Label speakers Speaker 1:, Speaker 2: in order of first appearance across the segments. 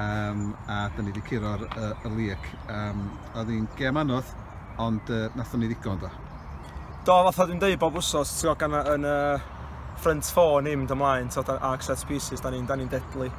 Speaker 1: um, a dyn ni wedi curo'r uh, y liec. Um, oedd hi'n gem anodd, ond uh, nathon ni ddigon do. Do, fath o
Speaker 2: dwi'n dweud bob wsos, ti'n gwybod, gan yn y uh, front four ni'n mynd ymlaen, ti'n gwybod, arc set pieces, da ni'n ni deadly.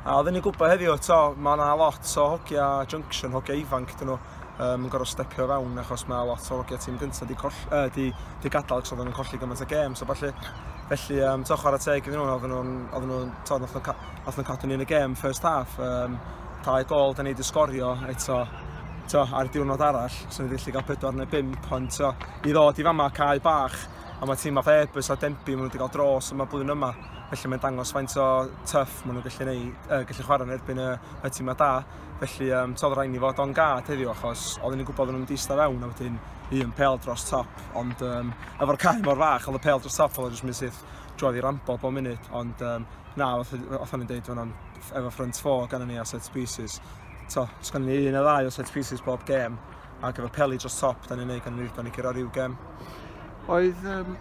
Speaker 2: A oedden ni'n gwybod heddiw, to, mae yna lot o hogia junction, hogia ifanc dyn nhw, um, yn gorfod stepio fewn achos mae lot o hogia tîm gyntaf di, coll, uh, di, di gadael ac oedden nhw'n colli gymaint o gêm. So, falle, felly, um, to, chwarae teg iddyn nhw, oedden nhw'n, oedden nhw'n, to, nhw'n Nath nhw cadw ni yn y gêm first half, um, talu gol da ni wedi sgorio eto to, ar diwrnod arall, so ni wedi gallu cael pedwar neu bimp, ond to, i ddod i fama cael bach, a mae tîm fath Airbus a Denby, maen nhw wedi cael dros yma blwyddyn yma, felly mae'n dangos faint o tuff maen nhw'n gallu, neud, uh, gallu chwarae yn erbyn y, y tîm da. Felly, um, todd rhaid ni fod o'n gad heddiw, achos oedden ni'n gwybod nhw'n mynd eista fewn, a wedyn un pel dros top, ond um, efo'r cael mor fach, ond y pel dros top, oedd jyst mynd syth drwy i rambo bob munud, ond um, Na, oedd o'n i'n dweud, o'n efo ffrind fo gan ni a set pieces. To, os gan ni un o ddau o set pieces bob gem, ac efo peli dros top, da ni'n neud gan ni, da ni gyro rhyw gem. Oedd,
Speaker 1: um,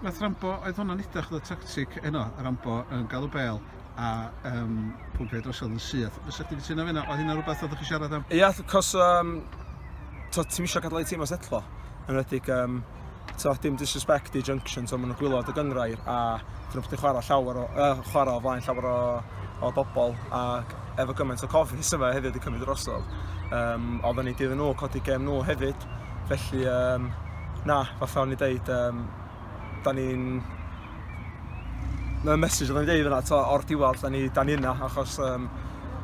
Speaker 1: nath Rambo, oedd hwnna'n idach oedd y tactic yno, Rambo yn galw bel, a um, pwmpio drosodd yn syth. Fysa chdi gytuno fyna, oedd hynna rhywbeth oedd chi siarad am? Ia, cos, um,
Speaker 2: ti'n misio gadael ei tîm o setlo, yn redig um, t'o' dim disrespect i Junction t'o' ma' nhw'n gwylod y gynghrair a dyn nhw'n chwara llawer o yy chwara o flaen llawer o o bobl ac efo gymaint o cofis yma hefyd wedi cymryd drosodd um, oedd yn ei dydd nhw codi gem nhw hefyd felly um, na fatha o'n i deud um, da ni'n y mesaj oedd o'n deud yna to, o'r diwedd da ni, da ni yna achos um,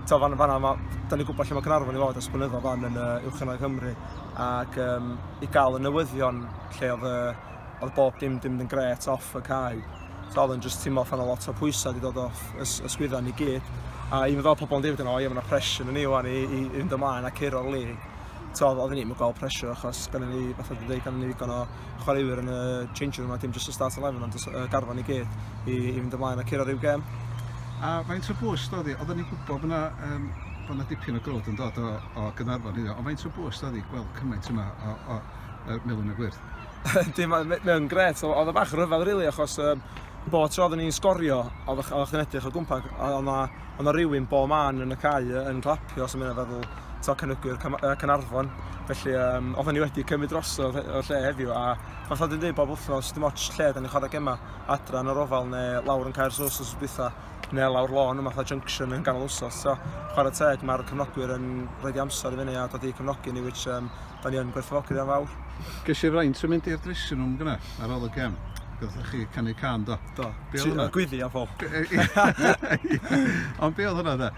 Speaker 2: to, fan, fanna, ma, da ni'n gwybod lle mae Cynarfon i fod ers blynyddoedd fan yn uh, Uwch Ynoedd Cymru ac um, i gael y newyddion lle oedd, uh, oedd bob dim dim yn gret off y cae. So oedd yn just teimlo fan o lot o pwysau wedi dod off ys, ysgwydda ni gyd. A i meddwl pobl yn dweud yn o, ie, mae yna pressure yn ni wan i, i, i fynd ymlaen a curo o'r lig. So oedd ni'n mynd gweld pressure achos gan ni, fath oedd yn dweud, gan ni ddigon o chwaraewyr yn y change room a dim just y start 11 ond y garfan i gyd i, i fynd ymlaen a curo rhyw gem. A faint
Speaker 1: o bwys dod i? Oedden ni'n gwybod bod yna um, bod yna dipyn o grwd yn dod o o Gaernarfon heddiw, ond faint o bwys oedd hi gweld cymaint yma o, o uh, melyn y gwyrdd? Dim, mae'n
Speaker 2: gret, oedd y bach rhyfedd rili, really, achos um, bo tro oedden ni'n sgorio, oedd chi'n edrych o gwmpa, oedd yna rhywun bo man yn y cae yn clapio, os yma'n feddwl, to cynygwyr Cynarfon. Felly, um, oedden ni wedi cymryd drosodd o'r lle heddiw, a fath oedd yn dweud bob wythnos, dim ots lle, da ni'n chwarae gema adra yn yr ofal neu lawr yn cael Caer Sos os bytha. neu lawr lôn yma fatha junction yn ganol wsos. So, chwarae teg, mae'r cefnogwyr yn rhoi di amser i fyny a dod i cefnogi ni, which um, da ni yn gwerthfawrogi yn fawr. Ges i fraint o
Speaker 1: mynd i'r dressing room gyna ar ôl y gem. Gwyddoch chi canu can do? Do. Be oedd hwnna? Gwyddi
Speaker 2: am ffol.
Speaker 1: Ond be oedd hwnna da?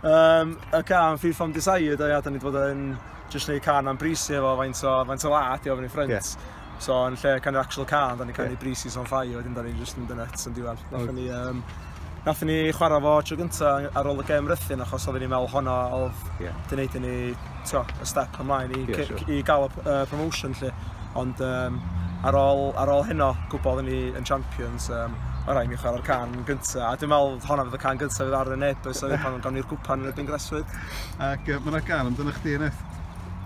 Speaker 1: Um, y
Speaker 2: can Free From Desire, da, da ni wedi bod yn just neud can am brisi efo faint o, faint o la, di ofyn i ffrind. Yeah. So yn lle kind of actual car, da ni kind of breezes on fire, wedyn da ni just yn dynet yn diwedd. Nathon ni, um, nathon ni chwarae fo tro gynta ar ôl y gem rythyn, achos oedden ni'n meddwl hwnna oedd yeah. di wneud i ni tio, y step ymlaen i, yeah, sure. i gael y uh, promotion lle. Ond um, ar ôl, ar ôl hynno, gwybod ni yn champions, um, o rai mi chwarae'r can gynta, a dwi'n meddwl hwnna fydd y can gynta fydd ar y neb, so pan gawn ni'r gwpan yn y Bingreswyd. Ac uh, mae'n rhaid
Speaker 1: gael amdano chdi, Eneth?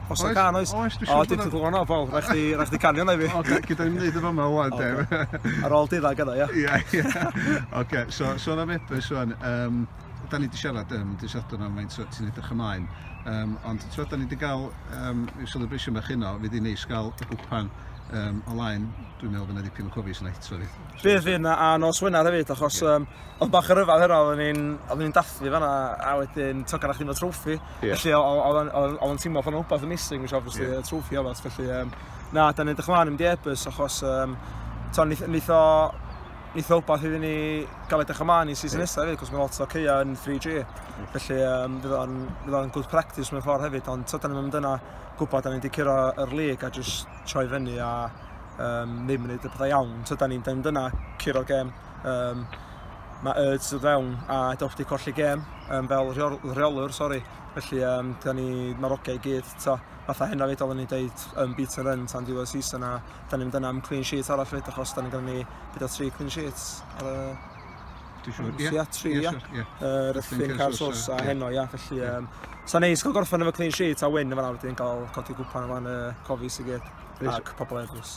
Speaker 1: Os oes can
Speaker 2: oes. Oes, dwi'n siŵr. O, dwi'n siŵr bod o'n ofal. Rhaid chdi, rhaid chdi canio na i fi. O, gyda ni'n neud y fyma
Speaker 1: wan, Dew. Ar ôl dydda gyda,
Speaker 2: ia? Ia, ia.
Speaker 1: Oce, so, sôn am Ebus wan. Um, da ni wedi siarad yn um, disadwn am faint ti'n edrych ymlaen. Um, ond ti'n tywed, da ni wedi cael um, yw celebration bach yno, fydd i'n neis gael y gwpan um, o laen, dwi'n meddwl fyna dipyn o cofis yna hito fi. Bydd fydd yna, a nos
Speaker 2: Wener hefyd, achos okay. um, Oedd bach o ryfedd hynna, oedden ni'n oedden ni'n dathlu fanna a wedyn ti'n cael chdi'n fod trwffi. Yeah. Felly oedd o'n teimlo fan rhywbeth yn missing, which obviously yeah. trwffi oedd felly um, na, da ni'n edrych ymlaen yn diebus achos um, ton, nith, nith o nith o wbeth iddyn ni gael edrych ymlaen i season yeah. nesaf hefyd, cos mae lot o ceia yn 3G. Yeah. Felly um, fydd o'n fydd o'n good practice mewn ffordd hefyd, ond da ni'n mynd yna gwybod da ni'n wedi curo yr lig a just troi fyny a um, ddim yn gwneud y pethau iawn. So, da ni'n mynd yna, curo'r gem, Um, mae Erds o fewn a dewch di colli gêm um, fel rheolwr, sori. Felly, um, da ni, mae'r ogau i gyd, ta, fatha hyn o fyd oedden ni dweud um, beat and run tan diwedd season a da ni'n mynd yna am clean sheet arall fyd achos da ni'n gyda ni gyda tri clean sheets ar y Dwi'n siŵr, ie. Ia, tri, ia. Rydyn Carsos a heno, ia. Felly, um, sa'n neis cael gorffen efo clean sheet a win efo na wedyn cael codi gwpan o fan y cofis i gyd ac pobl eglwys.